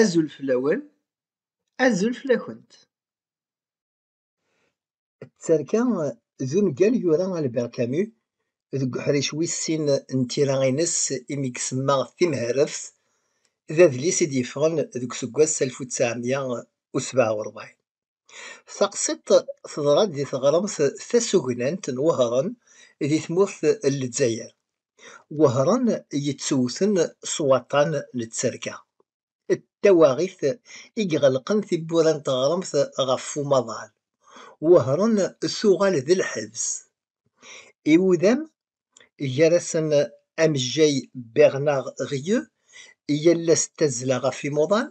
Azul fell-awen, azul fell-akent. D tarka d ungal yura Albert Camus deg uḥric wis sin n tira-ines imi i isemma Timherreft, d adlis i d-yeffɣen deg useggas alef u ttɛemya u sebɛa u ṛebɛin. Taqsiṭ teḍra-d di teɣremt tasugnant n Wehran di tmurt n Lezzayer. Wehran yettewten s waṭṭan n tterka d tawaɣit i iɣelqen tiwwura n teɣremt ɣef umaḍal. Wehran tuɣal d lḥebs. Iwudam gar-asen amejjay Bernard Rieu, i yal ass d tazzla ɣef imuḍan,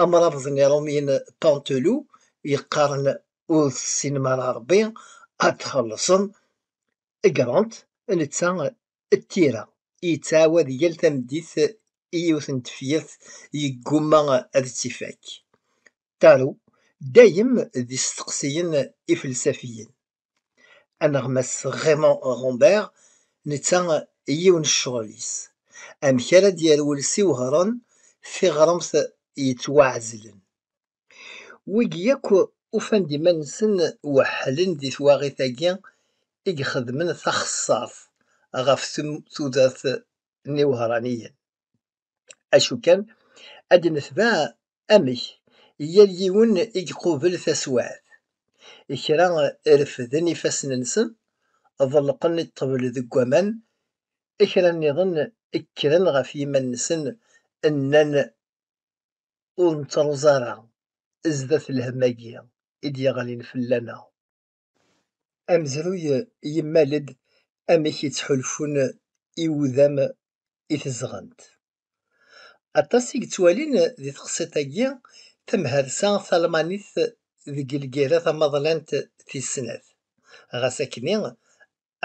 amrabeḍ n Iṛumyen Pantelou yeqqaren ur tessinem ara Ṛebbi ad txellṣem, Grant, netta d tira i yettɛawad yal tameddit i yiwet n tefyirt yeggumma ad tt-ifak. Tarot, dayem d isteqsiyen ifelsafiyen. aneɣmas Raymond Rambert netta yiwen ccɣel-is amek ara d-yerwel s iwehṛen tiɣremt yettwaɛezlen. Wigi yakk ufan-d iman-nsen weḥḥlen di twaɣit-agi i ixedmen taxeṣṣaṛt ɣef tudert n iwehṛaniyen. acu kan ad netbeɛ amek yal yiwen i iqubel taswiɛt. Kra refden ifassen-nsen, ḍelqen ṭṭbel deg waman, kra nniḍen kkren ɣef yiman-nsen nnan ur nettruẓ ara zdat lhemm-agi i d-yeɣlin fell-aneɣ. Amezruy yemmal-d amek i ttḥulfun iwudam i tezɣent. Aṭas i yettwalin di teqsiṭ-agi tamharsa talmanit deg lgirra tamaḍlant tis snat. Ɣas akkenni,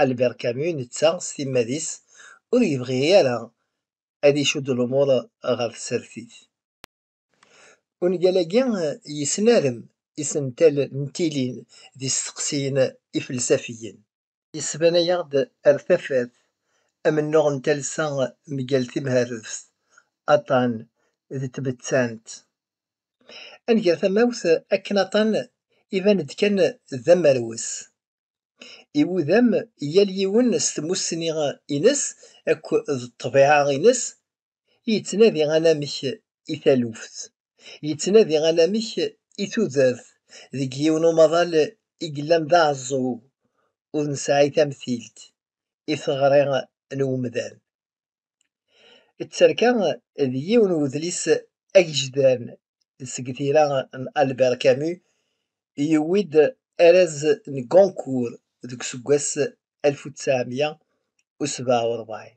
Albert Camus netta s timmad-is ur yebɣi ara ad icudd lumuṛ ɣer tsertit. Ungal-agi yesnarem isental n tilin d isteqsiyen ifelsafiyen. Yesbanayaɣ-d ar tafat amennuɣ n talsa mgal timherreft, aṭan d tbettant. Ad nger tamawt akken aṭan iban-d kan d amerwes. Iwudam yal yiwen s tmussni-ines akk d ṭṭbiɛa-ines yettnadi anamek i taluft, yettnadi anamek i tudert deg yiwen umaḍal i yellan d aɛeẓẓug ur nesɛi tamtilt i teɣri n umdan. Tterka d yiwen n udlis agejdan seg tira n Albert Camus, yewwi-d araz n Goncourt deg useggas alef u ttɛemya u sebɛa u rebɛin.